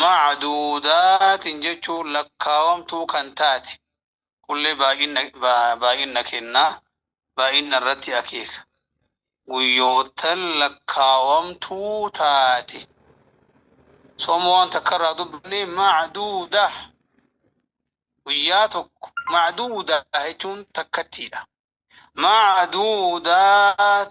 Macduudaatin jechuun lakkaawamtuu kan taate, kunillee baay'inna, ba, baay'inna kenna, baay'inna irratti akeeka. Guyyoottan lakkaawamtuu taate. Sooma waan takka irraa dubbanne macduuda. Guyyaa tokko macduuda jechuun takkattiidha. Macduudaat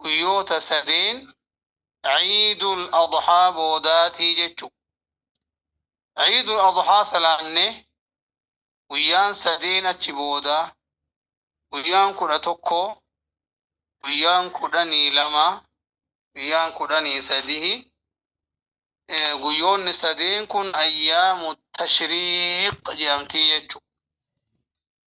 guyyoota sadeen ciidul adhaa boodaatii jechu ciidul adhaa salaanne guyyaan sadeen achi booda guyyaan kudha tokko guyyaan kudhanii lama guyyaan kudhanii sadihi guyyoonni sadeen kun ayyaamu tashriiq jedhamtii jechu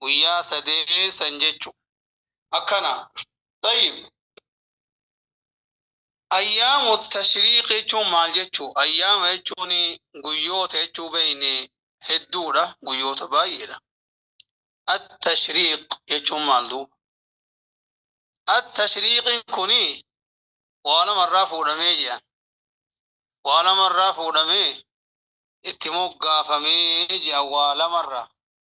guyyaa sadeen san jechu akkana tayyib ayyaamu tashriiq jechuun maal jechu ayyaama jechuun guyyoota jechuu beeyne hedduudha guyyoota baay'eedha attashriiq jechuun maal duuba attashriiqiin kuni waa lamarraa fuudhamee jedhan waa lamarraa fuudhamee itti moggaafamee jedhan waa lamarraa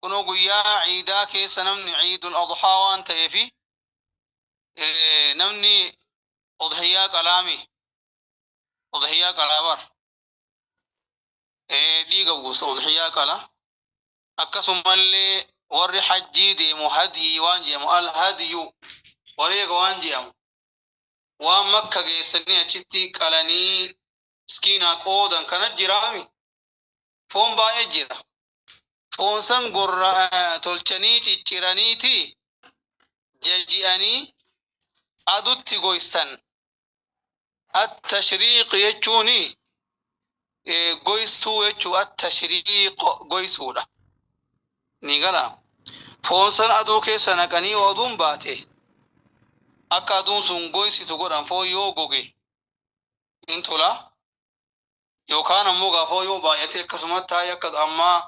kunoo guyyaa ciidaa keessa namni ciidul adhaa waan ta'eefi namni udhiyyaa qalaami udhiyyaa qalaabar dhiiga buusa udhiyyaa qala akkasumallee warri hajjii deemu hadiyii waan jedhamu al hadiyu wareega waan jedhamu waan makka geessanii achitti qalanii miskiinaa qoodan kana jiraami foon baay'ee jira. Foon san gorra eh, tolchanii cicciraniiti jaji'anii adutti goysan. Attashriiq jechuun eh, goysuu jechuu attashriiq goysuudha. Ni gala. Foon san aduu keessa naqanii yoo aduun baate akka aduun sun goysitu godhan foon yoo goge hin tolaa. Yookaan ammoo gaafoo yoo baay'atee akkasumatti taa'e akka ammaa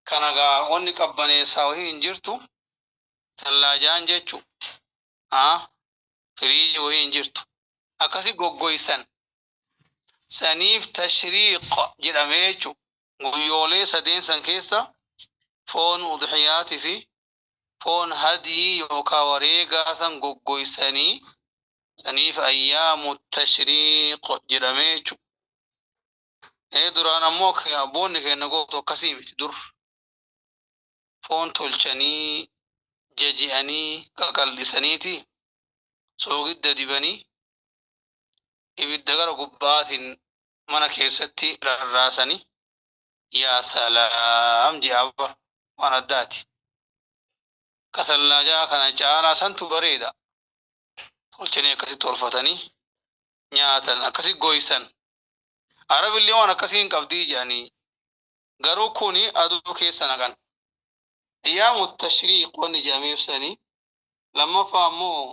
kana gaa wanni qabbaneessaa wahii hin jirtu tallaajaan jechu haa firiiji wahii hin jirtu akkasi goggoysan saniif tashriiq jedhamee jechu guyyoolee sadeen san keessa foon udhiyaati fi foon hadyii yookaa wareegaa san goggoysanii saniif ayyaamu tashriiq jedhamee jechu ee duraan ammoo abboonni keenna gootu akkasii miti dur foon tolchanii jaji'anii qaqaldhisaniiti soogidda dibanii ibidda gara gubbaatiin mana keessatti rarraasanii Yaa salaam ji'aa bar waan addaati. Kasallaajaa kana caalaa santu bareeda. Tolchanii akkasi tolfatanii nyaatan akkasi goysan. Arabillee waan akkasii hin qabdii jedhanii. Garuu kuni aduu keessa naqan. Ayyaamu tashriiq wanni jedhameef sanii. Lammaffaa ammoo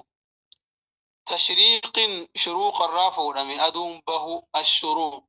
tashriiqin shuruuqa irraa fuudhame aduun bahu ashuruuq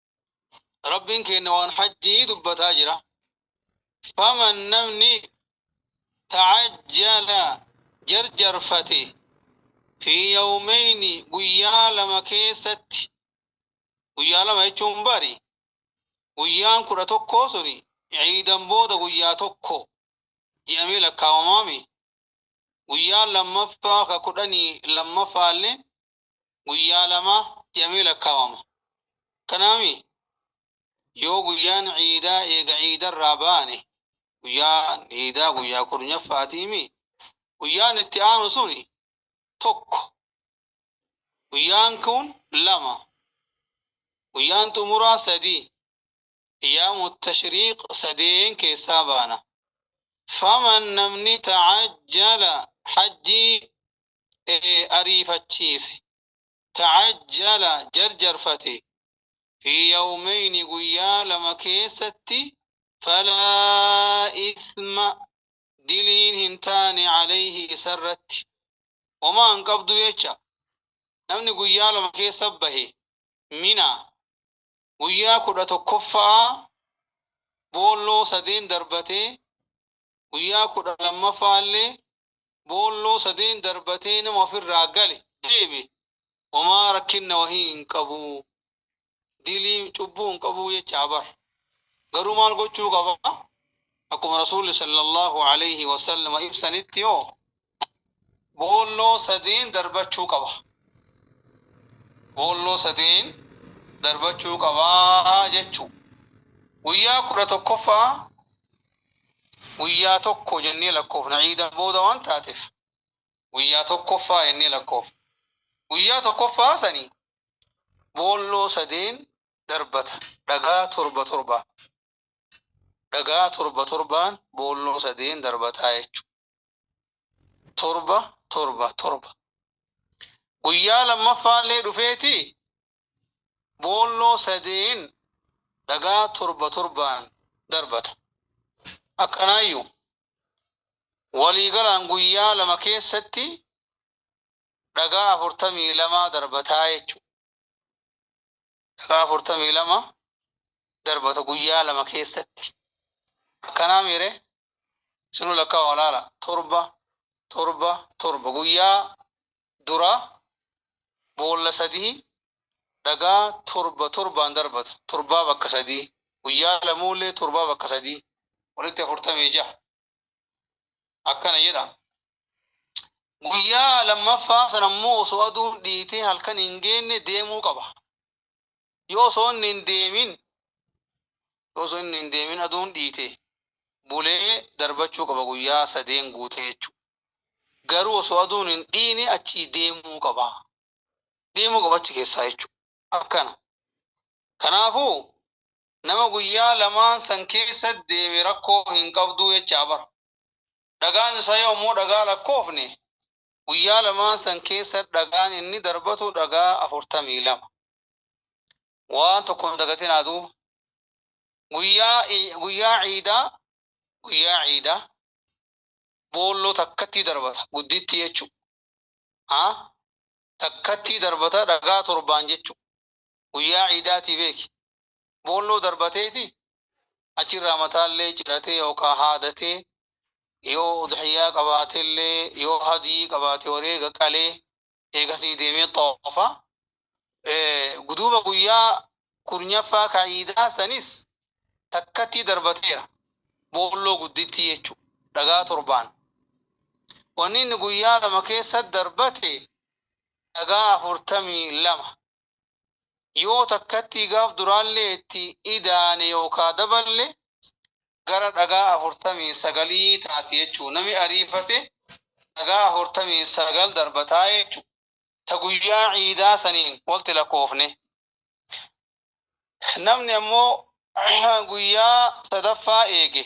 rabbiin keenna waan hajjii dubbataa jira faman namni ta'ajjala jarjarfate fi yawmeyni guyyaa lama keessatti guyyaa lama jechuun bari guyyaan kudha tokkoo suni ciidan booda guyyaa tokko jedhamee lakkaawamaami guyyaan lammaffaa ka kudhanii lammaffaallee guyyaa lama jedhamee lakkaawama. Kanaami yoo guyyaan ciidaa eega ciidarraa baane guyyaan ciidaa guyyaa kurnyaffaatii guyyaan itti aanu suni tokko guyyaan kun lama guyyaan xumuraa sadii ayyaamu tashriiq sadeen keessaa baana. Faman namni ta'ajjala hajjii ee ariifachiise tacajjala jarjarfate fi yawmeyni guyyaa lama keessatti falaa ithma diliin hin taane caleyhi isarratti homaa hin qabdu jecha namni guyyaa lama keessa bahe mina guyyaa kudha tokkoffa'aa boolloo sadeen darbatee guyyaa kudha lammaffaallee boolloo sadeen darbatee nama ofirraa gale deebi homaa rakkinna wahii hin qabu dilii cubbuu hin qabu jechaa bar garuu maal gochuu qaba akkuma rasuulli sallallahu alayhi wasallam ibsanitti yoo boolloo sadiin darbachuu qaba. Boolloo sadiin darbachuu qaba jechuu. Guyyaa kudha tokkoffaa guyyaa tokko jennee lakkoofna ciida booda waan taateef guyyaa tokkoffaa jennee lakkoofna. Guyyaa tokkoffaa sani boolloo sadeen darbata dhagaa torba torbaan. Dhagaa torba torbaan boolloo sadeen darbataa jechuudha. torba torba torba guyyaa lammaffaallee dhufeeti boolloo sadeen dhagaa torba torbaan darbata akkanaayyuu waliigalaan guyyaa lama keessatti dhagaa afurtamii lamaa darbataa jechuudha. daqiiqaa afurtamii lama darbata guyyaa lama keessatti akkanaa miire sinu lakkaa walaala torba torba torba guyyaa dura boolla sadii dhagaa torba torbaan darbata torbaa bakka sadii guyyaa lamuullee torbaa bakka sadii walitti afurtamii jaha akkana jedha guyyaa lammaffaa sana immoo osoo aduun dhiitee halkan hin geenne deemuu qaba yoo osoo inni hin deemin yoo osoo inni hin deemin aduun dhiite bulee darbachuu qaba guyyaa sadeen guutee jechuudha garuu osoo aduun hin dhiine achii deemuu qaba deemuu qaba achi keessaa jechuudha akkana kanaafuu nama guyyaa lamaan san keessa deeme rakkoo hin qabduu jechaa bar dhagaan isaa yoo ammoo dhagaa lakkoofne guyyaa lamaan san keessa dhagaan inni darbatu dhagaa afurtamii lama waan tokko hin dagatin aduu guyyaa i- guyyaa ciidaa guyyaa ciidaa boolloo takkattii darbata gudditti jechuu haa takkattii darbata dhagaa torbaan jechuu guyyaa ciidaatii beeki boolloo darbateeti achirraa mataallee ciratee yookaan haadatee yoo udhiyyaa qabaatellee yoo hadiyii qabaate wareega qalee eegasii deemee xoofa guduuba guyyaa kurnyaffaa ka ciidaa sanis takkattii darbateera boolloo gudditti jechuudha dhagaa torbaan wanni inni guyyaa lama keessa darbate dhagaa afurtamii lama yoo takkattii gaaf duraallee itti idaane yookaa daballe gara dhagaa afurtamii sagalii taati jechuu nami ariifate dhagaa afurtamii sagal darbataa jechuu ta guyyaa ciidaa saniin walti lakkoofne namni ammoo guyyaa sadaffaa eege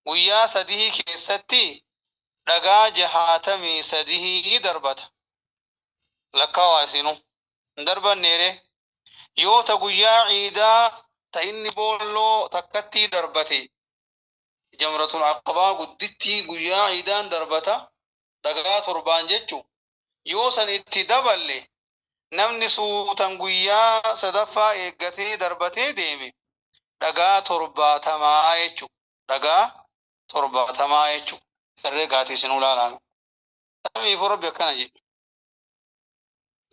guyyaa sadihii keessatti dhagaa jahaatamii sadihii darbata lakkaawaa isinu hin darbanneere yoo ta guyyaa ciidaa ta inni boolloo takkattii darbate jamratul aqabaa guddittii guyyaa ciidaan darbata dhagaa torbaan jechu Yoo san itti daballe namni suutan guyyaa sadaffaa eeggatee darbatee deeme dhagaa torbaatamaa jechuudha. Dhagaa torbaatamaa jechuudha. Herregaatii isinuu laalaa mee. Saniifuu Rabbi akkana jedhe.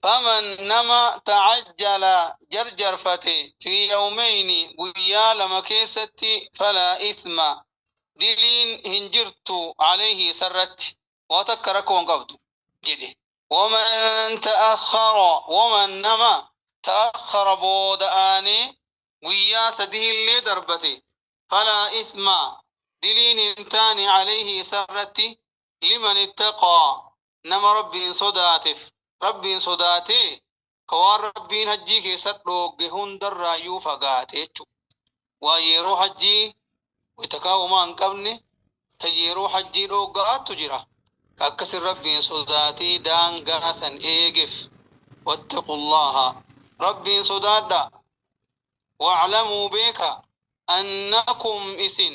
Faman nama ta'ajjala jarjarfate fi yawmeyni guyyaa lama keessatti falaa ithma diliin hin jirtu alayhi isarratti. waa takka rakkoo hin qabdu jedhe waman ta'akhara waman nama ta'akhara booda'aanee guyyaa sadiillee darbate falaa ithma diliin hin taane alayhi isarratti liman ittaqaa nama rabbiin sodaateef rabbiin sodaatee ka waan rabbiin hajjii keessatti dhoogge hundarraayyuu fagaate jechuudha. Waan yeroo hajjii wayita kaa'umaa hin qabne ta yeroo hajjii dhoogga'aattu jira. Ka akkasin rabbiin sodaatee daangaa san eegeef. Wattaqullaaha rabbiin sodaadha. Wa'lamuu beeka annakum isin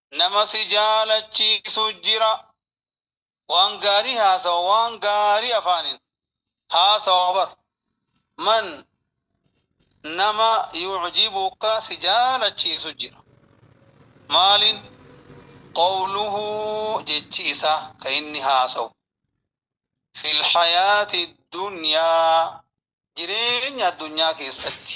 nama si jaalachiisu jira waan gaarii haasawa waan gaarii afaanin haasawa bar man nama yucjibuka si jaalachiisu jira maalin qawluhu jechi isaa ka inni haasawu fi lhayaati dunyaa jireenya addunyaa keessatti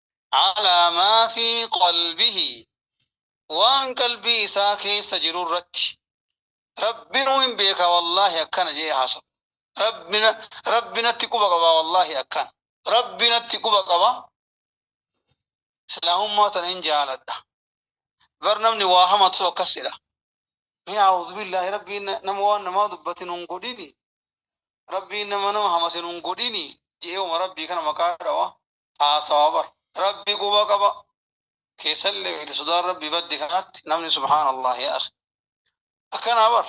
alaa maa fi qalbihi waan qalbii isaa keessa jiru irratti rabbinu hin beeka wallaahi akkana jee haasawu rabbina rabbinatti quba qaba wallaahi akkana rabbinatti quba qaba islaamummaa tana hin jaaladha bar namni waa hamatu akkas jedha ni a'uuzu billaahi rabbiin nama waan namaa dubbatin hin godhini rabbiin nama nama hamatin hin godhini je'eewuma rabbii kana maqaa dhawa haasawa bar rabbi quba qaba keessallee beekte sodaan rabbi badde kanatti namni subhaan allah yaa akhi akkanaa bar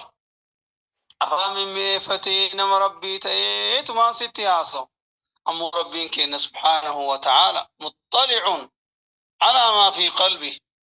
afaan mimmi'eeffatee nama rabbii ta'ee tumaan sitti haasawu ammoo rabbiin keenna subhaanahu wa ta'aala muxxali'uun alaa maa fi qalbi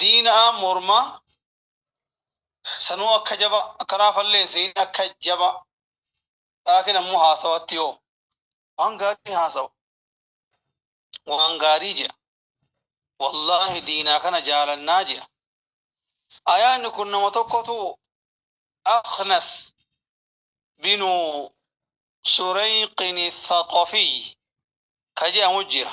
diinaa mormaa sanuu akka jaba akkanaa falleessiin akka jaba laakiin ammoo haasawatti yoo waan gaarii haasawa waan gaarii jea wallaahi diinaa kana jaalannaa jea ayaanni kun nama tokkotu aknas binu sureyqini thaqafii ka jeamu jira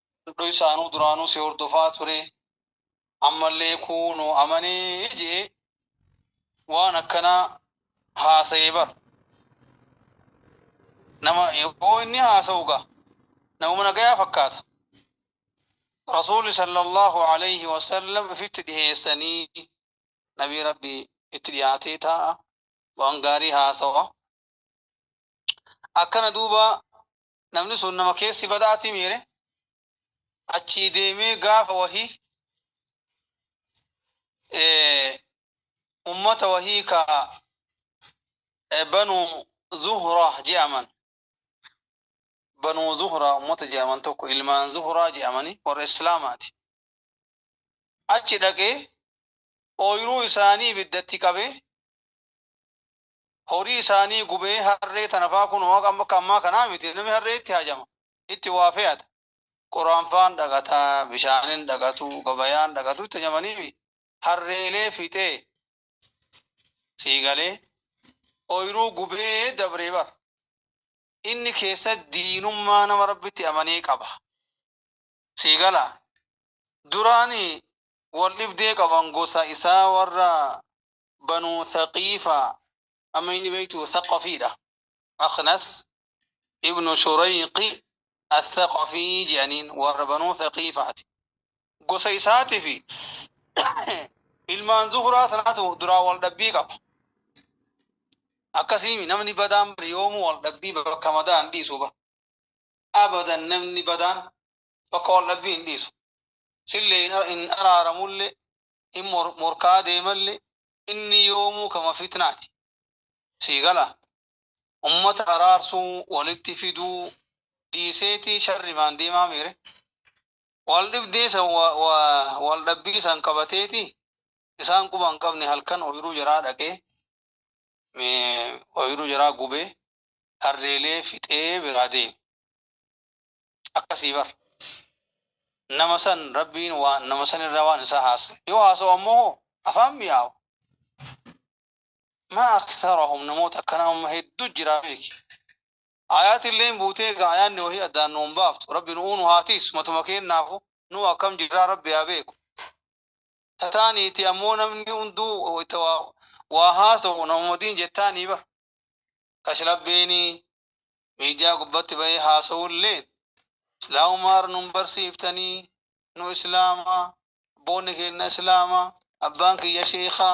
Hunduu isaanuu duraanuu si hordofaa ture. Ammallee kuunoo amanee jee waan akkanaa haasa'ee bar. Nama yoo inni haasa'u gaa namuma nagayaa fakkaata. Rasuulli sallallahu alayhi wa sallam ifitti dhiheessanii nabii rabbi itti dhiyaatee taa'a waan gaarii haasawa. Akkana duuba namni sun nama keessi badaatii miire achii deemee gaafa wahii ummata wahii ka banu zuhra je'aman banu zuhra ummata je'aman tokko ilmaan zuhraa je'amanii warra islaamaati achi dhaqee ooyiruu isaanii ibiddatti qabee horii isaanii gubee harree tanafaa kun waaqa amma akka ammaa kanaa miti namni harree itti haajama itti waa fe'ata qoraanfaan dhaqata bishaanin dhaqatu gabayaan dhaqatu itti hajamanii harreelee fixee sii galee ooyiruu gubee dabree bar inni keessa diinummaa nama rabbitti amanee qaba sii gala duraani wal dhibdee qaban gosa isaa warra banuu thaqiifa amma inni beektu thaqafiidha aknas ibnu shurayqi athaqafii jedhaniin warra banuu thaqiifaati gosa isaati fi ilmaan zuhuraa tanaatu duraa wal dhabbii qaba akkasiimi namni badaan bari yoomuu wal dhabbii bakka madaa hin dhiisu ba abadan namni badaan bakka wal dhabbii hin dhiisu sillee hin araaramulle hin morkaa deemalle inni yoomuu kama fitnaati. Sii gala? Ummata araarsuu, walitti fiduu dhiiseeti sharrimaan deemaa miire? Wal dhibdee san wal dhabbii san qabateeti isaan quba hin qabne halkan oyiruu jaraa dhaqee oyiruu jaraa gubee harreelee fixee biraa deeme. akkasii bar nama san rabbiin waan nama san irraa waan isaa haasa yoo haasa'u ammoo hoo afaan mi'aawu maa aktharahum namoota akkana amma hedduu jira beeki ayaati illeen buutee egaa ayaanni wahii addaan nuun baaftu rabbi nu'uu nu haa tiisu matuma keennaafu nuu akkam jirraa rabbi haa beeku tataaniiti ammoo namni hunduu itti waa waa haasa'u namuma diin jettaanii bar kashlabbeeni miidiyaa gubbatti bahee haasawulleen islaamummaa irra nun barsiiftanii nu islaama abboonni keenna islaama abbaan kiyya sheekha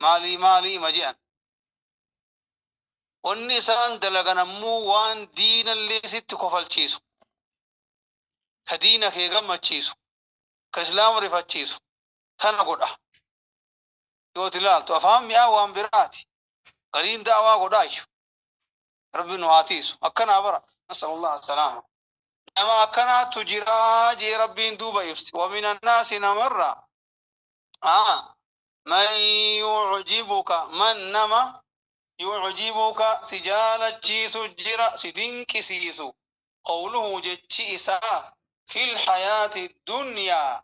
maalii maalii ima je'an wanni isaan dalagan ammoo waan diinallee sitti kofalchiisu ka diina kee gammachiisu ka islaama rifachiisu kana godha Yoo ati ilaaltu afaan mi'aa waan biraati. Gariin da'awaa godhaayyu. Rabbi nu haa tiisu. Akkanaa bara. Nasalullah assalaama. Nama akkanaatu jira jee Rabbiin duuba ibse. Wamin annaasi namarra. Aa. Man yuujibuka man nama yuujibuka si jaalachiisu jira si dinqisiisu. Qawluhu jechi isaa fil hayaati dunyaa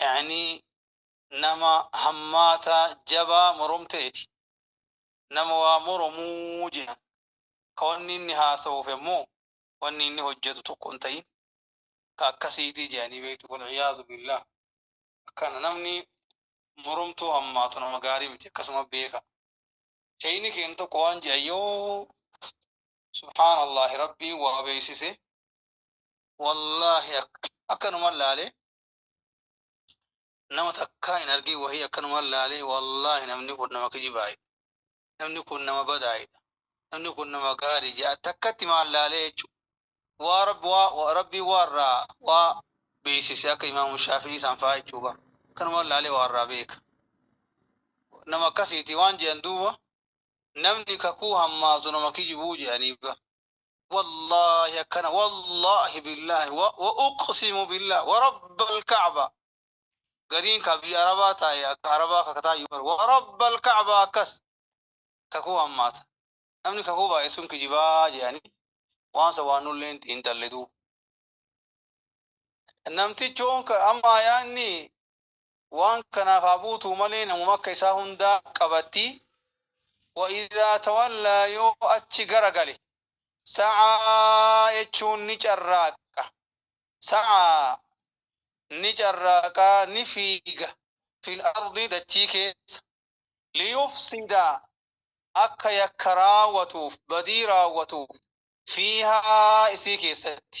Ya'ni nama hammaata jabaa moromteeti. Nama waa moromu jedhan. Ka wanni inni haasawuufi ammoo wanni inni hojjatu tokko hin tahin ka akkasiiti jedhanii beektu. Wal-'iyaadhu billaah. Akkana namni moromtuu hammaatu nama gaarii miti. Akkasuma beekaa. Sheyni keenya tokko waan jedhan yoo subhaanallaahi rabbiin waa beeksise wallaahi akkanuman laalee nama takkaa hin argin wahii akkanumaan laalee wallaahi namni kun nama kijibaayidha namni kun nama badaayidha namni kun nama gaarii jedha takkatti maal laalee jechu waa rabbi waa rabbii waarraa waa beeksise akka imaamu shaafii isaan fa'aa jechuu bar akkanumaan laalee waarraa beeka nama akkasiiti waan jedhan duuba namni kakuu hammaatu nama kijibuu jedhanii bar wallaahi akkana wallaahi billaahi wa wa uqsimu billaahi wa rabbal ka'ba gariin ka biyya arabaa taa'e akka arabaa kakataa iyyuu bara wa rabbal ka'ba akkas kakuu hammaata namni kakuu baay'isuun kijibaa jedhanii waan sa waan nullee hin tallituu namtichoon ka amma ayaanni Waan kanaaf haa buutuu malee namuma akka isaa hundaa qabatti. Wa idhaa tawallaa yoo achi gara gale. Sa'aa jechuun ni carraaqa. Sa'aa ni carraaqa, ni fiiga, fil ardi dachii keessa. Liyufsida akka yakka raawwatuuf, badii raawwatuuf, fiihaa isii keessatti.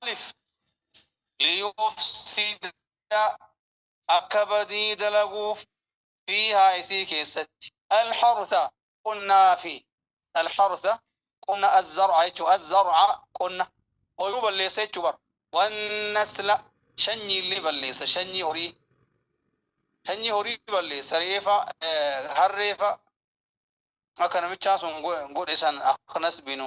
Maaliif liyuuf siidaa akka badii dalaguuf fiihaa isii keessatti alhartha qonnaa fi alhartha qonna azzarca jechuu azzarca qonna oyiruu balleessa jechuu bar wannasla shanyii illee balleessa shanyii horii shanyii horii balleessa reefa harreefa akka namichaa sun godhe san aknas binu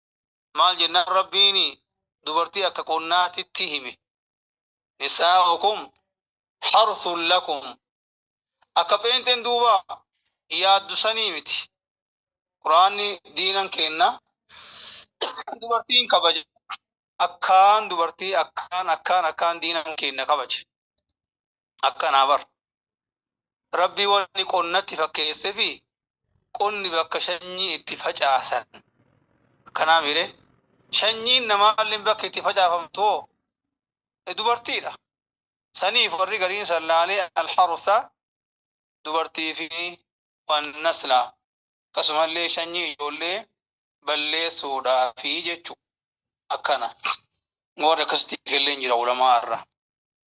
maal jennaan rabbiin dubartii akka qonnaatitti hime nisaa'ukum harthun lakum akka pheenxeen duuba yaaddu sanii miti quraanni diinan keenna dubartiin kabaja akkaan dubartii akkaan akkaan akkaan diinan keenna kabaje akkanaa bar rabbii wani qonnatti fakkeesse fi qonni bakka shanyii itti facaasan akkanaa miire shanyiin namaalleen bakka itti facaafamtu hoo dubartiidha saniif warri gariin sallaalee alharsa dubartii fi wannasla akkasumallee shanyii ijoollee balleessuudhaa fi jechuu akkana warri akkasitti eegalleen jira ulamaa irraa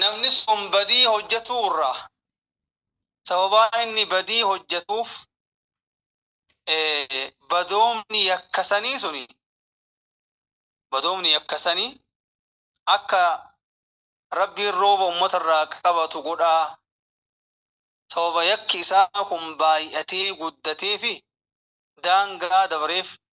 Namni sun badii hojjatuu irraa sababaa inni badii hojjatuuf badoomni yakka sanii suni badoomni yakka sanii akka rabbiin rooba ummata irraa qabatu godhaa sababa yakki isaa kun baay'atee guddatee fi daangaa dabreef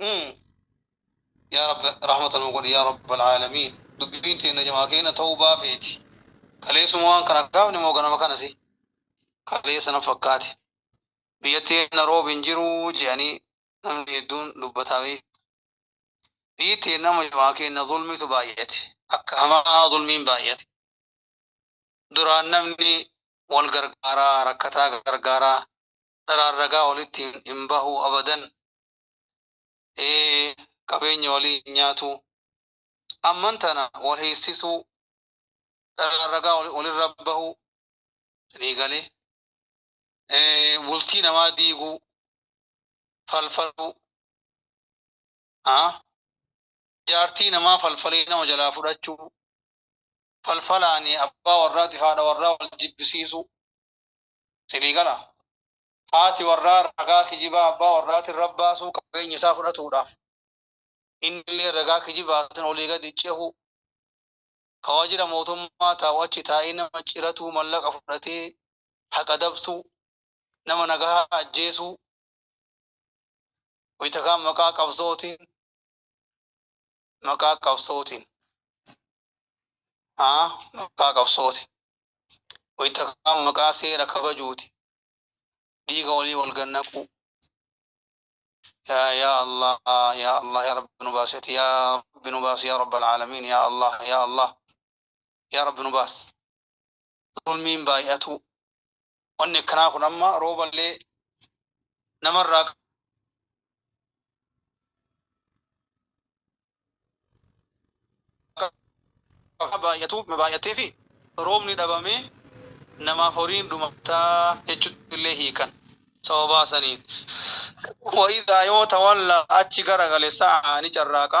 Mm. yaa rabbi rahmata nuu godhi yaa rabbal aalamiin dubbiin teenna jamaa keenya ta'uu baafeeti kaleessuma waan kana gaafne moo ganama kanasi kaleessa na fakkaate biyya teenna roobi hin jiru jedhanii namni hedduun dubbataa bee biyyi teenna amma jamaa keenya zulmiitu baay'ate akka hamaa zulmiin baay'ate duraan namni wal gargaaraa rakkataa gargaaraa dharaan ragaa walitti hin bahu abadan ee qabeenya walii hin nyaatu amman tana wal hiissisuu dharaan ragaa walirra bahu ni galee bultii namaa diiguu falfaluu jaartii namaa falfalee nama jalaa fudhachuu falfalaani abbaa warraatiif haadha warraa wal jibbisiisuu Sirii gala? Haati warraa ragaa kijibaa abbaa warraatiin rabbaasuu qabeenya isaa fudhatuudhaaf innillee ragaa kijibaatiin olii gadi cehuu, ka waajjira mootummaa taa'u achi taa'ee nama ciratuu mallaqa fudhatee haqa dabsuu, nama nagahaa ajjeesuu, wayita kaan maqaa qabsootiin maqaa qabsootiin aa maqaa qabsootiin wayita kaan maqaa seera kabajuuti dhiiga walii wal gannaquu yaa yaa allah yaa allah yaa rabbi nu baaseti yaa rabbi nu baas yaa rabbal aalamiin yaa allah yaa allah yaa rabbi nu baas zulmiin baay'atuu wanni akkanaa kun amma rooballee namarraa baay'atuu baay'atee fi roobni dhabamee namaaf horiin dhumataa jechuutti illee hiikan sababaa saniin. Wa'idaa yoo tawallaa achi garagale sa'aa ni carraaqa.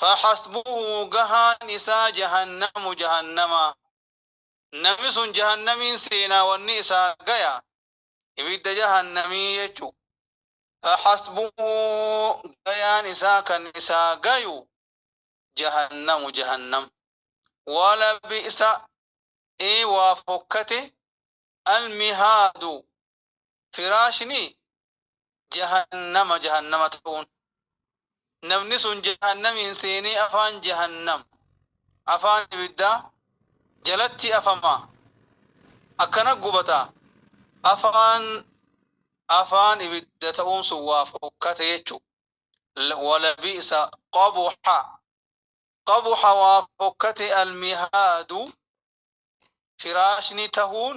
faxasbuhu gahaan isaa jahannamu jahannama nami sun jahannamiin seenaa wanni isaa gaya ibidda jahannamii jechu faxasbuhu gayaan isaa kan isaa gayu jahannamu jahannam wala bi'sa ee waa fokkate almihaadu firaashni jahannama jahannama ta'uun namni sun jahannamiin seenee afaan jahannam afaan ibiddaa jalatti afama akkana gubata afaan afaan ibidda ta'uun sun waa fokkate jechu walabiisa qabuxa qabuxa waa fokkate almihaadu firaashni tahuun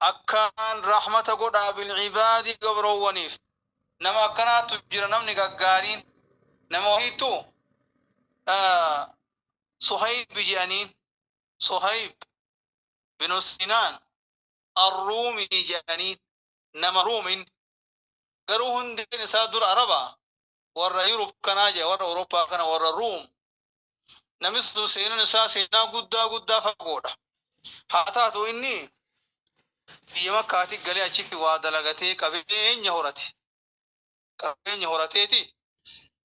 Akkaan rahmata godhaa bil'ibaadi gabroowwaniif. Nama akkanaatu jira namni gaggaariin. Nama wahiittu Suhayb jedhaniin. Suhayb binu Sinaan Arruumii jedhaniin. Nama Ruum inni. Garuu hundeen isaa dura Araba. Warra Yurub kanaa jedha warra Awurooppaa kana warra Ruum Namichi sun seenaan isaa seenaa guddaa guddaa fagoodha. Haa taatu inni biyya makkaatii galee achitti waa dalagatee qabeenya horate. Qabeenya horateeti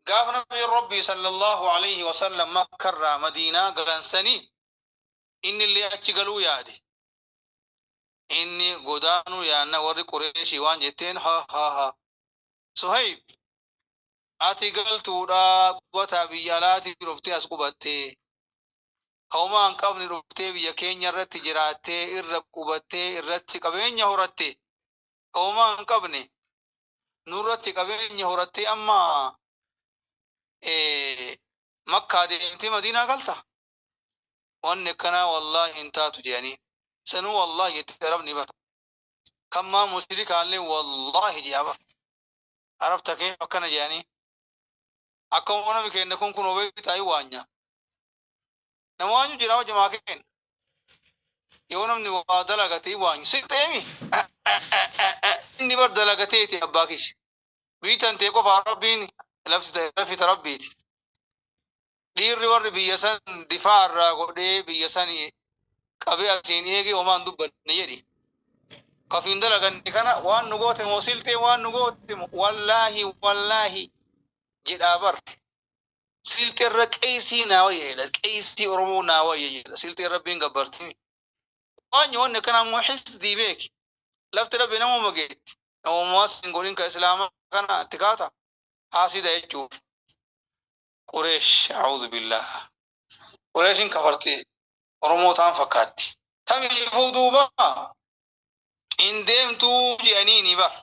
gaafa nabi rabbii sallallahu alaihi wasallam makkarraa madiinaa galansanii inni illee achi galuu yaade. Inni godaanuu yaanna warri qureeshii waan jetteen ha ha ha Suhayb, Ati galtuudha qubataa biyya alaatii dhuftee as qubattee. Ka homaa hin qabne dhuftee biyya keenya irratti jiraattee irra qubattee irratti qabeenya horatte. Ka homaa hin qabne nurratti qabeenya horattee amma eh, makkaa deemtee madiinaa galta. Wanni akkanaa wallaahi hin taatu jedhanii. Sanuu wallaahi jette arabni bara. kan maa mushrikaallee wallaahi jedha bar arab takee akkana jedhanii akka nami keenya kun kun obee taa'ii waanyaa nama waanyu jira hojja maa keenya yoo namni waa dalagatee waanyu si ta'eemi inni bar dalagateeti abbaa kishi biitan tee qofaa rabbiin lafti ta'e lafita rabbiiti dhiirri warri biyya san difaa irraa godhee biyya san qabee asiin eegee homaan dubbanne jedhi. Kafiin dalaganne kana waan nu goote moo siltee waan nu goote moo wallaahi wallaahi jedhaa bar. Siltee irra qeesii naa wayya jedha qeesii Oromoo naa wayya jedha siltee rabbiin gabbartimi. Waan nyoonni akkana ammoo hisdii beeki. Lafti rabbi namuma geetti. Namummaa sin godhin ka islaamaa kana itti kaata haasida jechuudha. Qureesh a'uudhu billaah. Qureeshin kafarti Oromoo taan fakkaatti. Tamiifuu duuba hin deemtuu je'aniini bar.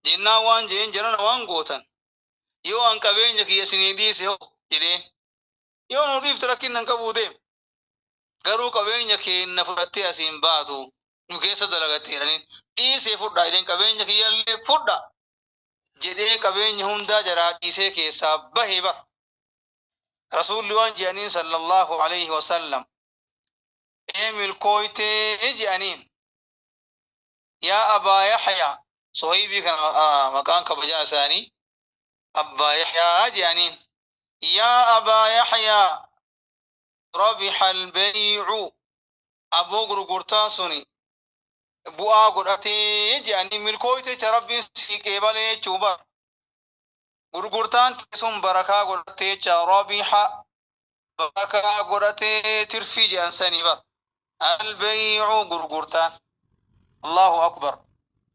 Jennaan waan je'een jarana waan gootan yoo an qabeenya kiyya isinii dhiise hoo jedheen. Yoo nu dhiifte rakkinna hin qabuu deem. Garuu qabeenya keenna fudhattee asii hin baatu nu keessa dalagatte jedhaniin. Dhiisee fudhaa jedheen qabeenya kiyyallee fudhaa. jedhee qabeenya hundaa jaraa dhiisee keessaa bahe bar rasuulli waan jedhaniin sallallahu alayhi wasallam ee milkooytee jedhaniin yaa abaa yaxyaa sohaybii kana ah, maqaan kabajaa isaanii abbaa yaxyaa jedhaniin yaa abaa yaxyaa rabixa albaycu aboo gurgurtaan suni bu'aa godhatee jedhanii milkooyte jecha rabbiin sii qeebalee jechuu bar gurgurtaan tee sun barakaa godhattee jecha rabiha barakaa godhatee tirfii jedhan sanii bar albeeyicu gurgurtaan allahu akbar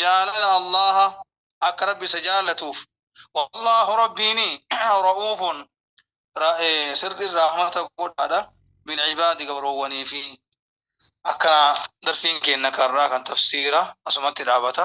jaalala Allaaha akka Rabbi isa jaallatuuf wallaahu Rabbiini ra'uufun sirriin rahmata godhaadha bilcibaadi gabroowwaniifi akkana darsiin keenna karraa kan tafsiira asumatti dhaabata